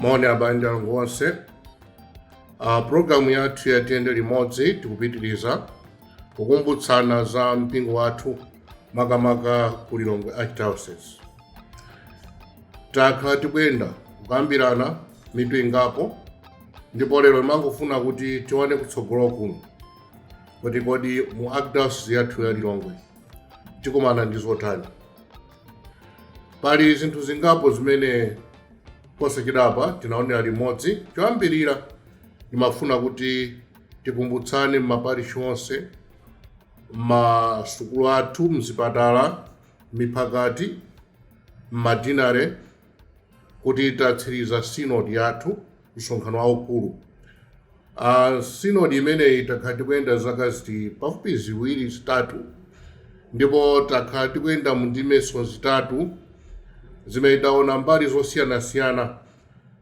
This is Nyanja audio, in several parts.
moni abale ndi alongo onse uh, programu yathu ya tiyende limodzi tikupitiriza kukumbutsana za mpingo wathu makamaka ku lilongwe archdiocese takhala tikuyenda kukambirana mitu ingapo ndipo lero timangofuna kuti tione kutsogolo kuno kuti kodi mu archdiocese yathu ya lilongwe tikumana ndi zotani pali zinthu zingapo zimene posachedwapa tinaonera limodzi choyambirira ndimafuna kuti tikumbutsane m'maparishi onse m'masukulu athu mzipatala M'miphakati, m'ma deanery, kuti tatsiriza synod yathu, msonkhano waukulu. A synod imeneyi takhala tikuyenda zaka ziti pafupi ziwiri zitatu, ndipo takhala tikuyenda mu ndimeso zitatu zimene taona mbali zosiyanasiyana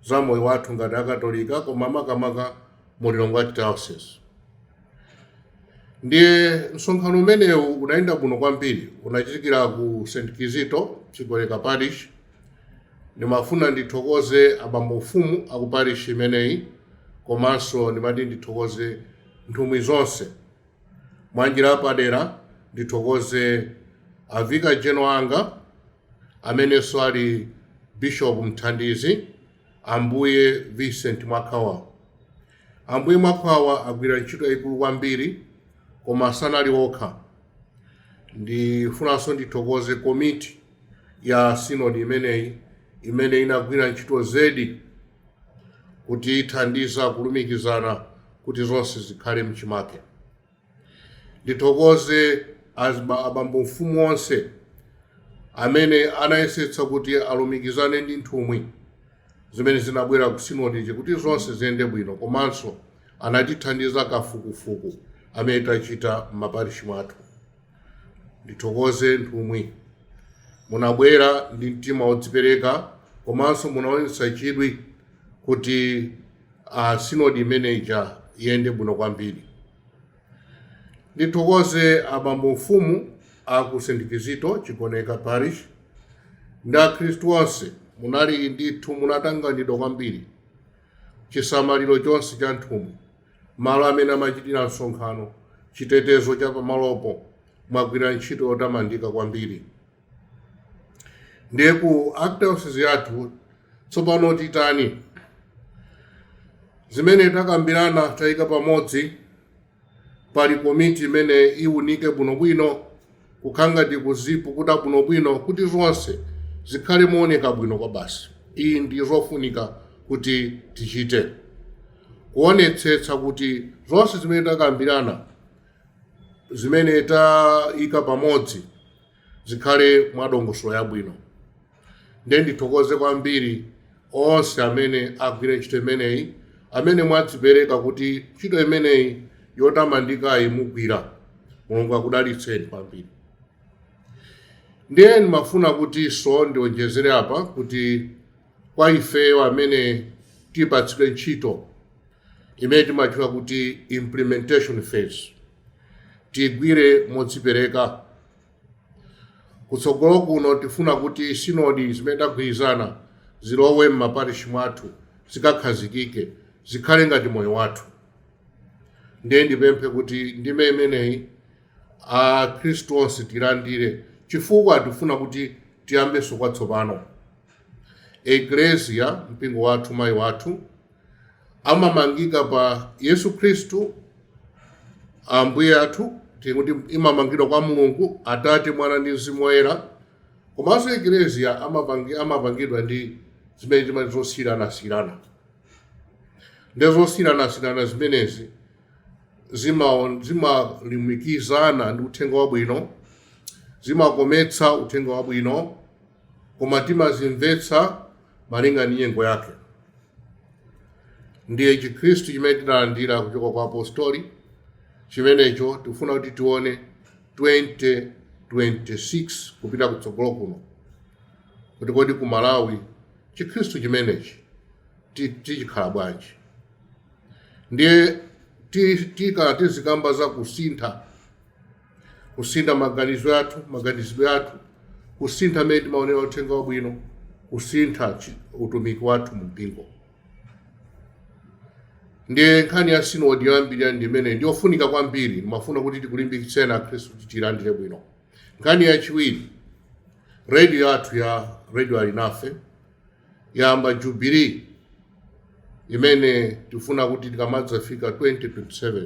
za moyo wathu ngati Akatolika, koma makamaka mu Lilongwe Archdiocese. Ndiye msonkhano umenewu unayenda bwino kwambiri, unachitikira ku St. Kizito, Chigoneka Parish. Ndimafuna ndithokoze abambo mfumu a ku parish imeneyi komanso ndimati ndithokoze nthumwi zonse. Mwa njira yapadera ndithokoze a Vicar General anga amenenso ali Bishop Mthandizi. Ambuye Vincent Mwakhwawa Ambuye Mwakhwawa agwira ntchito yayikulu kwambiri koma sanali okha. Ndifunanso ndithokoze komiti ya sinodi imeneyi imene inagwira ntchito zedi kutithandiza kulumikizana kuti zonse zikhale mchimake. Ndithokoze azima, abambo mfumu onse amene anayesetsa kuti alumikizane ndi nthumwi zimene zinabwera ku sinodiyi kuti zonse ziyende bwino komanso anatithandiza kafukufuku amene tachita m'maparishi mwathu. Ndithokoze nthumwi, munabwera ndi mtima wodzipereka komanso munaonetsa chidwi kuti a sinodi imene ija iyende bwino kwambiri. Ndithokoze abambo mfumu a ku St. Kizito Chigoneka Parish ndi Akhristu onse, munali ndithu munatanganidwa kwambiri chisamaliro chonse cha nthumwi, malo amene amachitira msonkhano, chitetezo cha pamalopo. Mwagwira ntchito yotamandika kwambiri. ndiye ku acts yathu tsopano titani zimene takambirana tayika pamodzi pali komiti imene iwunike bwinobwino kukhala ngati kuzipukuta bwinobwino kuti zonse zikhale mooneka bwino kwabasi izi ndi zofunika kuti tichite kuonetsetsa kuti zonse zimene takambirana zimene tayika pamodzi zikhale mwa dongosolo yabwino ndiye ndithokoze kwambiri onse amene agwire ntchito imeneyi amene mwadzipereka kuti ntchito imeneyi yotamandikayi mugwira mulungu akudalitseni kwambiri ndiye ndimafuna kutinso ndionjezere apa kuti kwa ifeyo amene tipatsidwe ntchito imene timatchula kuti implementation phase Tiigwire modzipereka. Kutsogolo kuno tifuna kuti sinodi zimene tagwirizana zilowe m'maparishi mwathu, zikakhazikike, zikhale ngati moyo wathu. Ndiye ndipemphe kuti ndime imeneyi akhristu onse tiilandire chifukwa tifuna kuti tiyambenso kwatsopano. Eklesia, mpingo wathu, mayi wathu. amamangika pa yesu khristu ambuye athu tikuti imamangidwa kwa mulungu atate mwana ndi mzimu woyera komanso ekleziya amapangi- amapangidwa ndi zimene timati zosiyiranasiyirana ndi zosiyiranasiyirana zimenezi zimaon- zimalimikizana ndi uthenga wabwino zimakometsa uthenga wabwino koma timazimvetsa malinga ndi nyengo yake. Ndiye Chikhristu chimene tidalandira kuchoka kwa apostoli chimenecho tikufuna kuti tione 2026 kupita kutsogolo kuno kuti kodi ku Malawi Chikhristu chimenechi ti- tichikhala bwanji. Ndiye ti- tikhala tizikamba za kusintha kusintha maganizo athu maganizidwe athu kusintha mmene timaonera uthenga wabwino kusintha chi- utumiki wathu mu mpingo ndiye nkhani ya sinodi yoyambirira ndi imene ndi yofunika kwambiri ndimafuna kuti tikulimbikitseni akhristu kuti tiyilandire bwino nkhani yachiwiri redio yathu ya redio alinafe yayamba jubilee imene tifuna kuti tikamadzafika 2027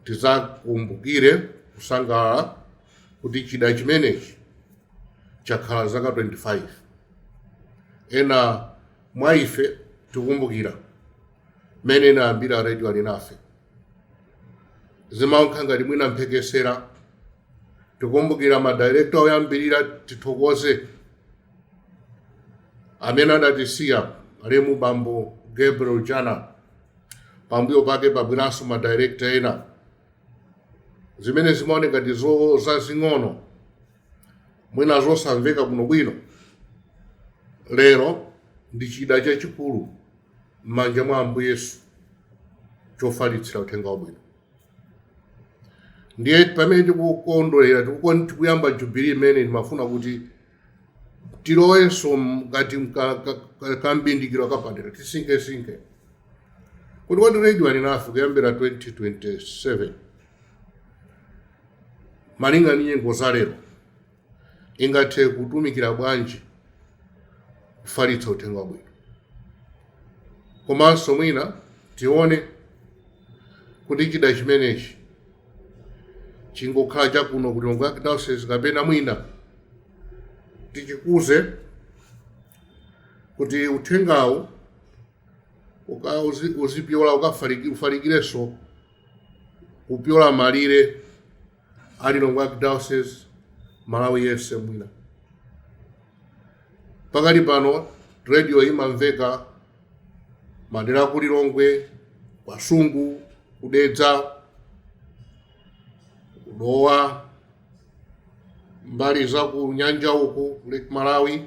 tizakumbukire kusangalala kuti chida chimenechi chakhala zaka 25 ena mwa ife tikumbukira mmene inayambira radio alinafe zimaoneka ngati mwina mphekesera tikumbukira madirekta oyambirira tithokoze amene adatisiya alemu bambo gabriel jana pambuyo pake panabweranso ma director ena zimene zimaoneka ngati zo- zazing'ono mwina zosamveka bwinobwino lero ndi chida chachikulu m'manja mwa ambuye yesu chofalitsira uthenga wabwino ndiye pamene tikukondwerera tikukon- tikuyamba jubilee imene ndimafuna kuti tilowenso mkati mka- ka- ka- kambindikiro kapadera tisinkhesinkhe kuti kodi radio alinafe kuyambira 2027 malinga ndi nyengo za lero ingathe kutumikira bwanji kufalitsa uthenga wabwino komanso mwina tione Kuti chida chimenechi chingokhala chakuno ku Lilongwe Archdiocese kapena mwina tichikuze kuti uthengawu uka- uzi- uzipyola ukafalikirenso kupyola malire a lilongwe archdiocese malawi yense mwina pakali pano radio imamveka madera ku lilongwe ku kasungu kudedza kudowa mbali za ku nyanja uku lake malawi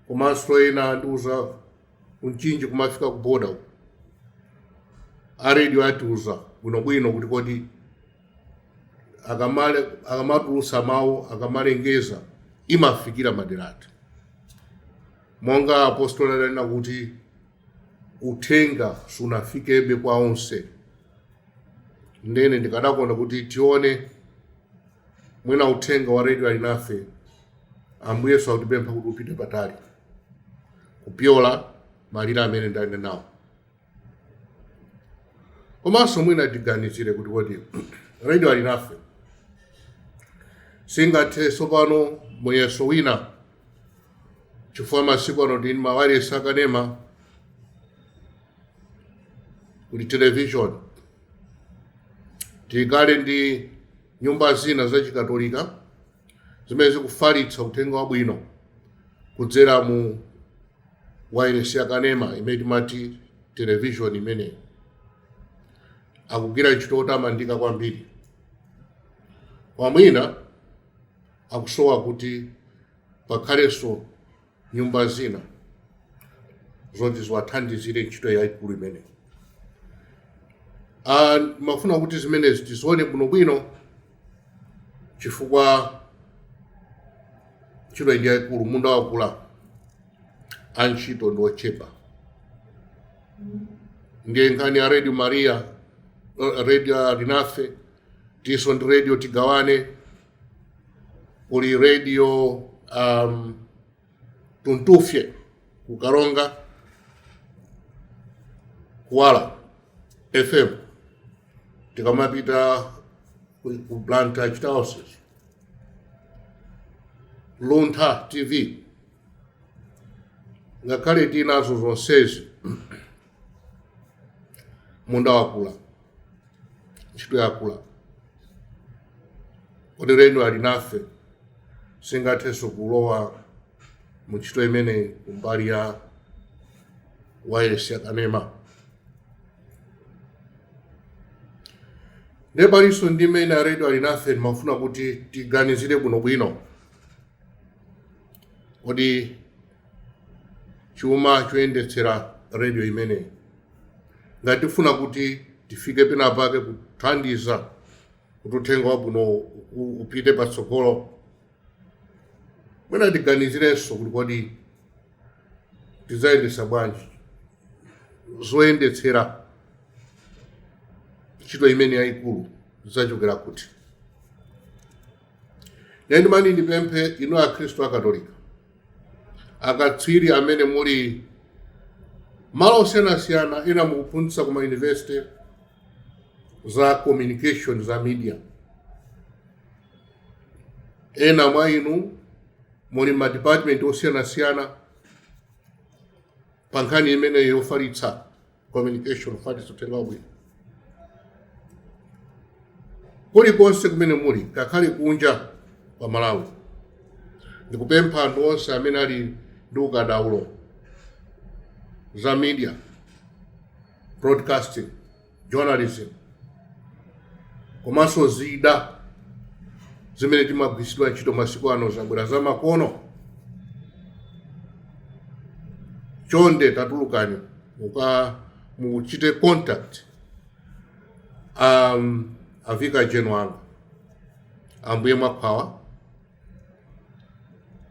komanso ena andiuza kumchinji kumafika ku boda uku a radio atiuza bwinobwino kuti kodi akamale akamatulutsa mawu akamalengeza imafikira madera ati monga apostoli adanena kuti uthenga sunafikebe kwa onse ndene ndikadakonda kuti tione mwina uthenga wa redio alinafe ambuye yesu akutipempha kuti upite patali kupyola malire amene ndanenawo komanso mwina tiganizire kuti kodi radio alinafe singathe tsopano muyeso wina chifukwa masiku ano kuli mawayilesi akanema kuli television tikhale ndi nyumba zina zachikatolika zimene zikufalitsa uthenga wabwino kudzera mu wailesi yakanema imene timati televishoni imeneyi akugwira ntchito yotamandika kwambiri koma mwina akusowa kuti pakhalenso nyumba zina zoti ziwathandizile ntchito yayikulu imeneyi Ah, ndimafuna kuti zimenezi tizione bwinobwino chifukwa ntchito iyi ndi yayikulu munda wakula antchito ndi ochepa ndiye nkhani ya radio maria eh, radio alinafe tinso ndi radio tigawane kuli radio um, tuntufye ku karonga kuwala fm tikamapita ku ku blantyre chita wa sisi luntha tv ngakhale tinazo zonsezi munda wakula ntchito yakula kodi radio alinafe singathenso kulowa mu ntchito imeneyi kumbali ya wayesi yakanema ndiye palinso ndi imene a radio alinafe ndimafuna kuti tiganizire bwinobwino kodi chuma choyendetsera radio imeneyi ngati tifuna kuti tifike pena pake kuthandiza kuti uthenga wabwino u- upite patsogolo mwina tiganizirenso kuti kodi tidzayendetsa bwanji zoyendetsera ntchito imeneyi yayikulu zidzachokera kuti ndiye ndimati ndipemphe inu akhristu akatolika akatswiri amene muli malo osiyanasiyana ena mukuphunzitsa ku mayunivesite za communication za media ena mwa inu muli madipatimenti osiyanasiyana pa nkhani imeneyi yofalitsa communication fans uthenga wabwino kulikonse kumene muli ngakhale kunja kwa malawi ndikupempha anthu onse amene ali ndi ukadaulo za media broadcasting journalism komanso zida zimene zimagwiritsidwa ntchito masiku ano zabwera za makono chonde tatulukani mukamuchite contact um, a vicar general anu ambuye mwakhwawa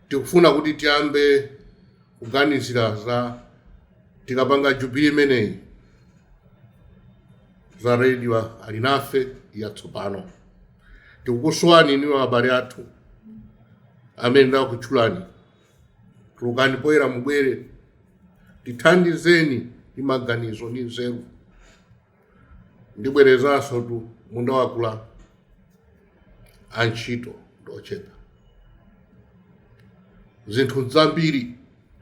tikufuna kuti tiyambe kuganizira za tikapanga jubili imeneyi za radio alinafe yatsopano tikukusowani inu abale athu amene nakutchulani tulukani poyera mubwere tithandizeni ndi maganizo ndi nzeru ndibwerezansotu munda wakula antchito ndi ochepa zinthu zambiri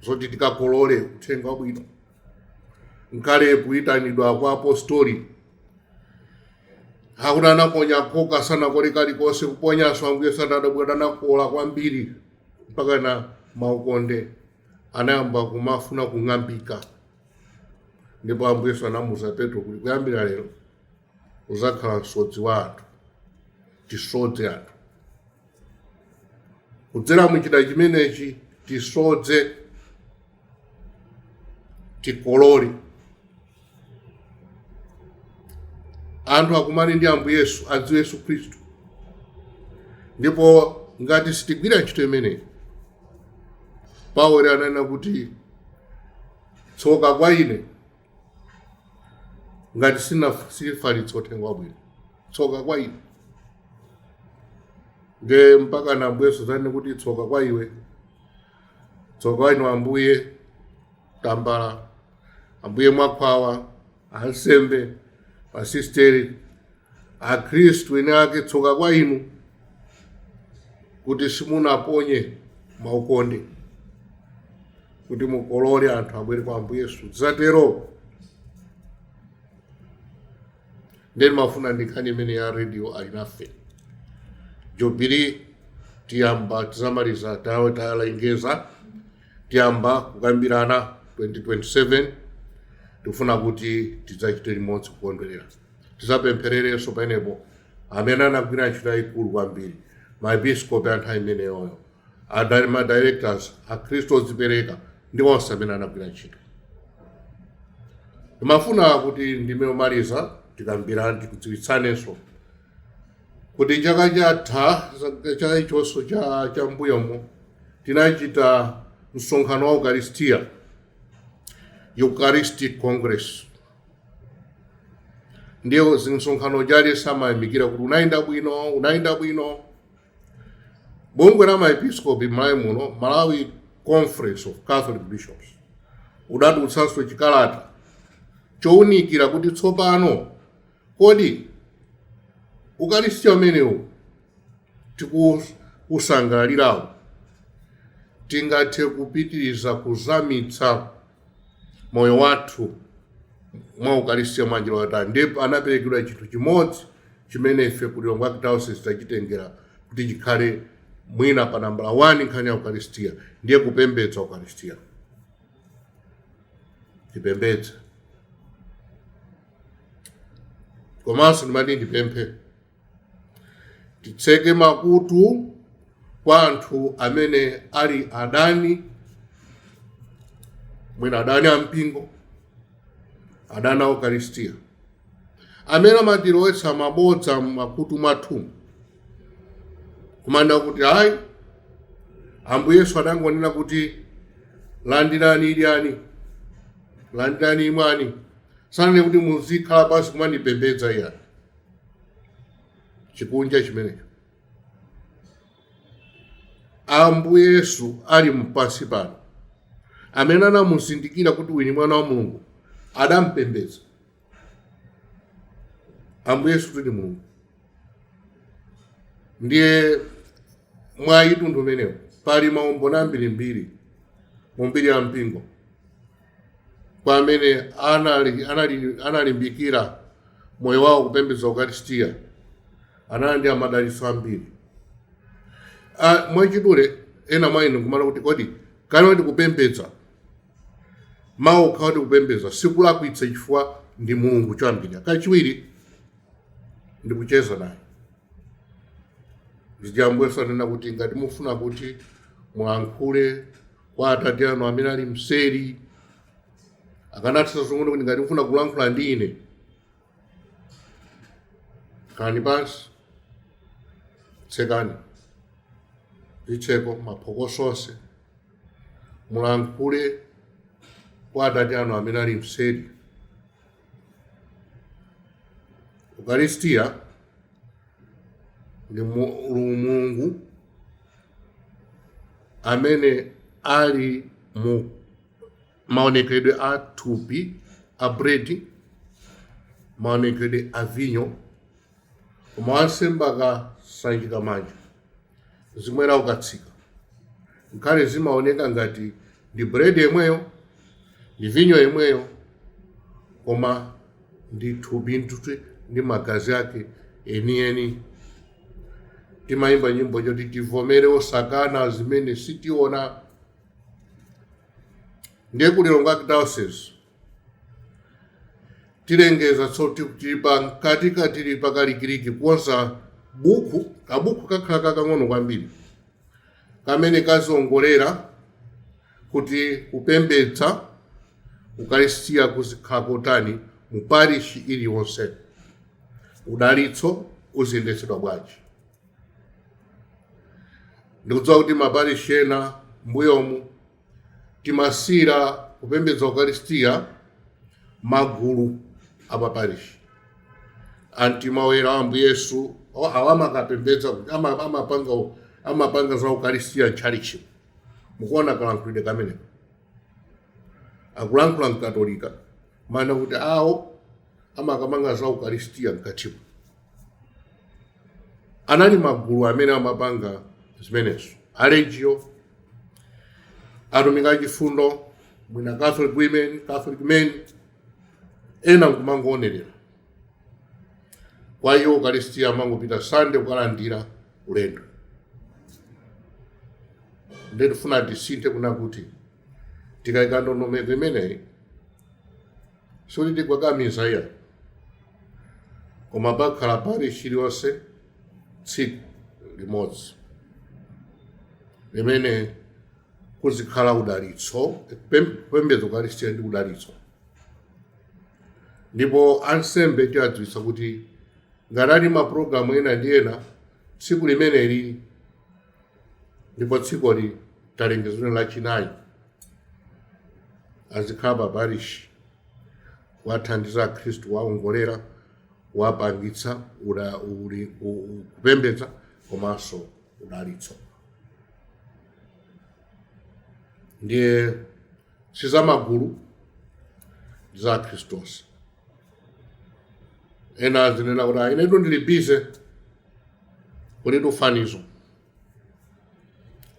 zoti tikakolole uthenga wabwino nkhani ya kuyitanidwa kwa apostoli akuti anaponya khoka sanakole kalikonse kuponyanso ambuye sadadabwe atakola kwambiri mpakana maukonde anayamba kumafuna kung'ambika ndipo ambuye yesu anamuuza petro kuti kuyambira lero uzakhala msodzi wa anthu tisodze anthu kudzera muchida chimenechi tisodze tikolore anthu akumane ndi ambuye yesu adziwe yesu khristu ndipo ngati sitigwira ntchito imeneyi paulo ananena kuti tsoka kwa ine ngati sindifalitsa uthenga wabwino tsoka kwa ine nde mpakana ambuye yesu azanene kuti tsoka kwa iwe tsoka inu ambuye tambala ambuye mwakhwawa ansembe asisteri akhristu eni ake tsoka kwa inu kuti simunaponye maukonde kuti mukolole anthu abwere kwa ambuye yesu azatero ndiye timafuna ndi nkhani imene ya radio alinafe jubili tiyamba tizamaliza tawe talengeza tiyamba kukambirana 2027 tikufuna kuti tidzachite limodzi kukondwerera tizapemphererenso pamenepo amene anagwira ntchito yayikulu kwambiri maepiskopi anthu imeneyoyo Ada- ma directors akhristu odzipereka ndi onse amene anagwira ntchito timafuna kuti ndime yomaliza tikambirane tikudziwitsanenso kuti chaka chatha cha ichonso cha mbuyomo tinachita msonkhano wa ukaristiya eucharistic congress ndiye za msonkhano jali samayamikira kuti unayenda bwino unayenda bwino bungwe la maepiskopi m'malawi muno malawi conference of catholic bishops lidatulutsanso chikalata chowunikira kuti tsopano kodi ukaristiya umenewu tikuusangalalirawu tingathe kupitiriza kuzamitsa moyo wathu wa ukaristia mwa njira yotani ndipo anaperekanso chinthu chimodzi chimene ife ku lilongwe archdiocese tachitengera kuti chikhale mwina pa nambala 1 nkhani ya ukaristia ndiye kupembedza ukaristia tipembedze komanso ndimati ndipemphe titseke makutu kwa anthu amene ali adani mwina adani a mpingo adani a ukaristiya amene amatilowetsa mabodza m'makutu mwathu kumanena kuti ayi ambuye yesu adangonena kuti landirani idyani landirani imwani sananene kuti muzikhala pansi kumandipembedza iyani chikunja chimenecho ambuye yesu ali pansi pano amene anamuzindikira kuti uyu ni mwana wa mulungu adampembedza ambuye yesu kuti ni mulungu ndiye mwa mtundu umenewo pali maumboni ambirimbiri mu mbiri ya mpingo kwa amene analimbikira moyo wawo kupembedza ukaristiya analandira madalitso ambiri Ah, mwachidule ena mwa inu kumanena kuti kodi kale kuti kupembedza mawu okha kuti kupembedza sikulakwitsa chifukwa ndi mulungu choyambirira kachiwiri ndi kucheza naye paja ambuye yesu anena kuti ngati mufuna kuti mulankhule kwa atate anu amene ali mseri akanatha kungonena kuti ngati mfuna kulankhula ndi ine khalani pansi tsekani zitseko maphokoso onse mulankhule kwa atate anu amene ali mseri ukaristiya ndi mulungu amene ali mu maonekedwe a thupi a bredi maonekedwe a vinyo koma wansembe akasanjika manja mzimu woyera ukatsika ngakhale zimaoneka ngati ndi bread yemweyo ndi vinyo yemweyo koma ndi thupi ndithu ndi magazi ake enieni timayimba nyimbo yoti tivomere osakana zimene sitiona ndiye ku lilongwe archdiocese tilengezanso kuti tili pa mkati ka tili pakalikiliki kukonza buku kabuku kakhala kakang'ono kwambiri kamene kaziongolera kuti kupembedza ukaristia kuzikhala kotani mu parishi iliyonse udalitso uziyendetsedwa bwanji ndikudziwa kuti maparishi ena mbuyomu timasiyira kupembedza ukaristiya magulu apaparishi a mtima woyera wa ambuye yesu awa amakapembedza kuti amapanga amapanga za ukaristiya m'tchalitchi mukuona kalankhulidwe kameneko akulankhula mkatolika mana kuti awo amakapanga za ukaristiya mkatimo anali magulu amene amapanga zimenezo a legio atumiki achifundo mwina catholic women catholic men ena nkumangoonerera kwa iwo ukaristiya amangopita sande kukalandira ulendo nde tifuna tisinthe kunena kuti tikaika ndondomeko imeneyi sikuti tikakamiza iya koma pakhala parishi iliyonse tsiku limodzi limene kuzikhala udalitso pem- kupembedza ukaristiya ndi udalitso ndipo ansembe tiadziwitsa kuti ngati ali mapulogalamu ena ndi ena tsiku limeneli ndipo tsikuli talengeza ndi lachinayi azikhala pa parishi kuwathandiza akhristu kuwaongolera kuwapangitsa ula- uli- u- u- kupembedza komanso udalitso ndiye si za magulu ndi za akhristu onse ena azinena kuti "Ah, inetu ndili bize kulitu fanizo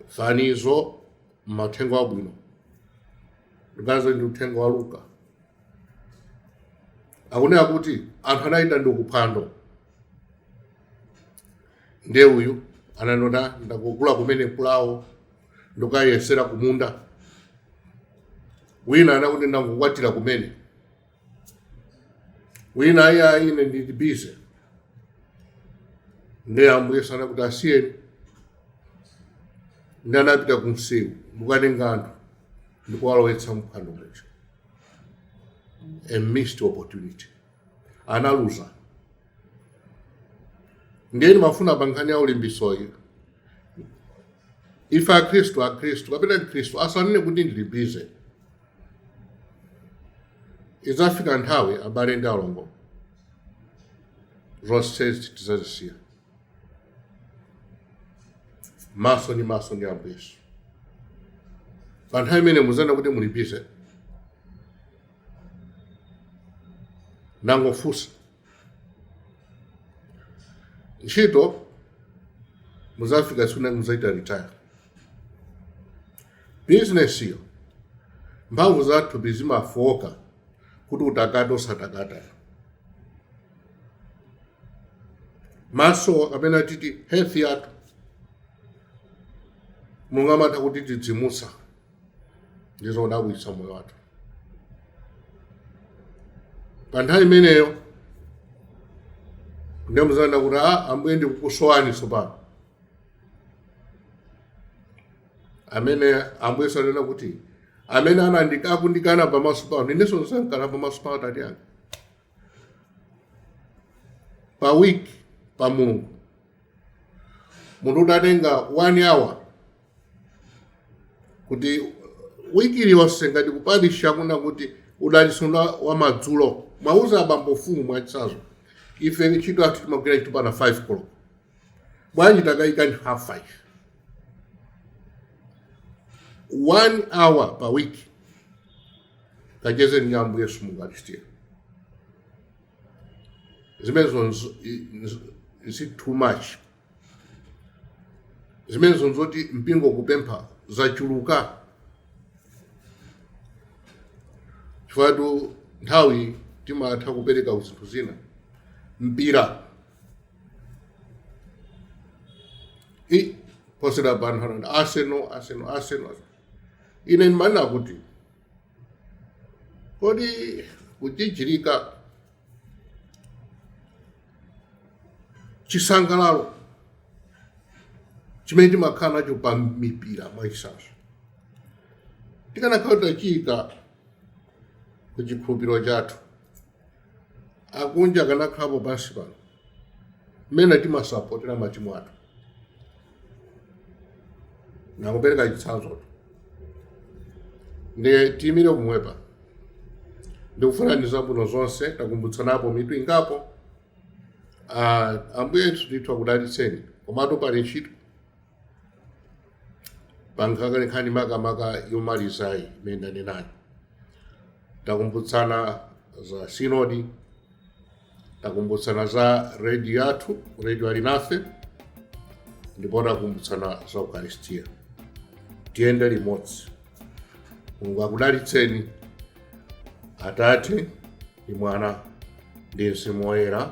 fanizo mu uthenga wabwino ndikuganiza ndi uthenga wa luka akunena kuti anthu anaitanidwa kuphwando ndiye uyu ananena ndangogula kumene pulawo ndikayesera kumunda wina ananena kuti ndangokwatira kumene wina ayi ayi ine ndili bize ndi ambuye sanena kuti asiyeni ndi anapita ku msewu mukatenga anthu ndikuwalowetsa mphwando muja a missed opportunity analuza ndiye ndimafuna pa nkhani ya ulibizeyi ife akhristu akhristu kapena mkhristu asanene kuti ndili bize idzafika nthawi abale ndi alongo zonsezi tidzazisiya maso ndi maso ndi ambuye yesu pa nthawi imene mudzanena kuti muli bize ndangofunsa ntchito mudzafika tsiku lina mudzaita retire bizinesiyo mphamvu zathu zimafooka kuti utakata usatakata manja kapena kuti health yathu mulungu amatha kuti tidzidzimutsa ndi zodabwitsa moyo wathu pa nthawi imeneyo ndi mudzanena kuti ambuye ndikukusowani tsopano amene ambuye ananena kuti amene anandi- akundikana pamaso pano inenso ndidzamukana pamaso pa atate anga pa wiki pa mulungu munthu udatenga one hour kuti wiki iliyonse ngati kuparishi kuna kuti dalitso wa madzulo mwauza abambo mfumu mwachitsanzo ife ntchito yathu timagwira ntchito mpaka 5 koloko bwanji takayikani half 5 one hour pa week kachezeni ndi ambuye yesu mu ukaristiya zimenezo nzi- nzi- nzi too much zimenezo nzoti mpingo ukupempha zachuluka chifukwa nthawi timatha kupereka ku zinthu zina mpira i posera pa anthu anati arsenal arsenal arsenal ine ndimanena kuti kodi kujijirika chisangalalo chimene timakhala nacho pa mipira mwachitsanzo tikanakhala kuti tachiyika ku chikhulupiriro chathu akunja akanakhalapo pansi pano mmene timasapotera matimu athu ndangopereka chitsanzo tu ndiye tiyimire kumwepa ndikufunirani zabwino zonse takumbutsanapo mitu ingapo Ah, ambuye ndithu akudalitseni komatu pali ntchito pankhani makamaka yomalizayi imene ndanenayo takumbutsana za sinodi takumbutsana za redio yathu redio alinafe ndipo takumbutsana za ukaristiya tiyende limodzi mulungu akudalitseni atate ndi mwana ndi mzimu woyera